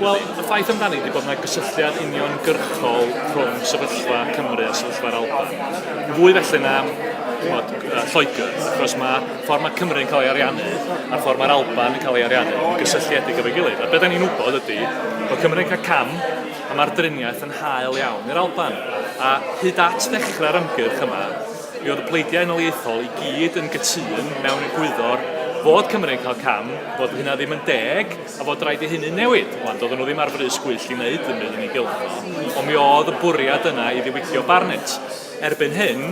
Wel, y ffaith amdani ydy bod yna gysylltiad uniongyrchol rhwng sefyllfa Cymru a sefyllfa'r Alban. Fwy felly na bod, uh, Lloegr, achos mae ffordd mae Cymru yn cael ei ariannu a'r ffordd mae'r Alban yn cael ei ariannu yn gysylltiedig efo'i gilydd. A beth ni'n wybod ydy bod Cymru'n cael cam a mae'r driniaeth yn hael iawn i'r Alban. A hyd at ddechrau'r ymgyrch yma, mi oedd y pleidiau yn oleithol i gyd yn gytun mewn egwyddor fod Cymru'n cael cam, bod hynna ddim yn deg, A fod rhaid i hynny newid. Wan, doedden nhw ddim ar frys gwyllt i wneud dim byd yn ei gylch o, ond mi oedd y bwriad yna i ddiwygio Barnett. Erbyn hyn,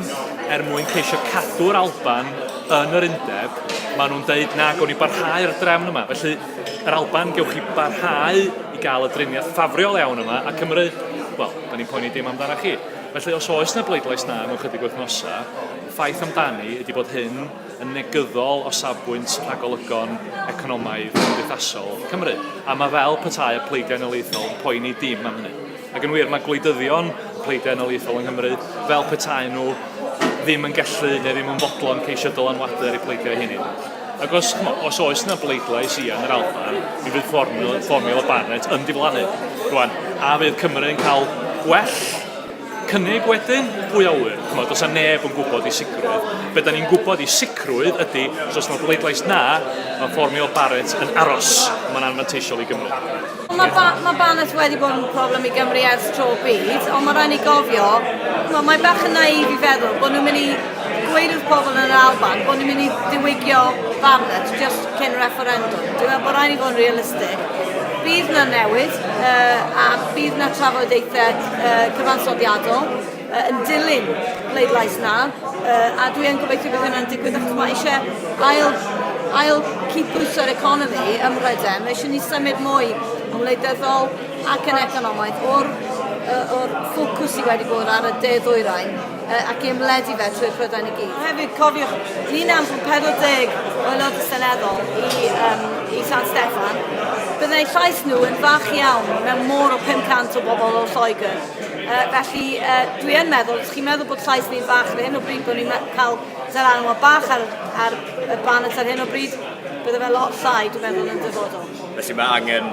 er mwyn ceisio cadw'r Alban yn yr undeb, maen nhw'n deud na gawn ni barhau ar y drefn yma. Felly, yr Alban, gewch chi barhau i gael y driniaeth ffafriol iawn yma, a Cymru, wel, da ni'n poeni dim amdana chi. Felly, os oes na bleidlais na mewn chydig wythnosau, ffaith amdani ydy bod hyn yn negyddol o safbwynt rhagolygon economaidd a chymdeithasol Cymru. A mae fel petai y pleidiau noliaethol yn poeni dim am hynny. Ac yn wir, mae gwleidyddion y pleidiau noliaethol yng Nghymru fel petai nhw ddim yn gallu neu ddim yn fodlon ceisio dylanwadu ar eu pleidiau eu hunain. Ac os, os oes yna bleidlais i yn yr Alban, mi fydd fformiwla Barnett yn diflannu. Rwan, a fydd Cymru yn cael gwell cynnig wedyn, pwy a ŵyr, ch'mod, does 'na neb yn gwybod i sicrwydd. Be da ni'n gwybod i sicrwydd ydy, os oes 'na bleidlais na, mae ffordd Neil Barrett yn aros, a mae'n anfanteisiol i Gymru. Mae ba ma Barnett wedi bod yn problem i Gymru ers tro byd, ond mae rhaid ni gofio, ch'mod, mae bach yn naïf i feddwl bod nhw'n mynd i gweud wrth pobl yn yr Alban bod nhw'n mynd i ddiwygio Barnett just cyn refferendwm. Dwi'n meddwl bod rhaid ni fod yn realistig. Bydd 'na newid, uh, a bydd 'na trafodaethau uh, cyfansoddiadol uh, yn dilyn pleidlais na, uh, a dwi yn gobeithio bydd hynny'n digwydd achos mae eisiau ail, ail cydbwyso'r economi ym Mhrydain, mae eisiau ni symud mwy yn wleidyddol ac yn economaidd o'r, uh, or ffocws sydd wedi bod ar y de ddwyrain Yy, ac i ymledu fe trwy'r Prydain i gyd. Hefyd, cofiwch, ni'n anfon 40 o aelodau seneddol i, um, i San Steffan. Byddai llais nhw yn fach iawn mewn môr o 500 o bobl o Lloegr. Uh, felly, uh, dwi yn meddwl, ydych chi'n meddwl bod llais ni'n fach ar hyn o bryd, bod ni'n cael seranwa bach ar, ar y baned ar hyn o bryd, bydde fe lot llai, dwi'n meddwl, yn dyfodol. Felly mae angen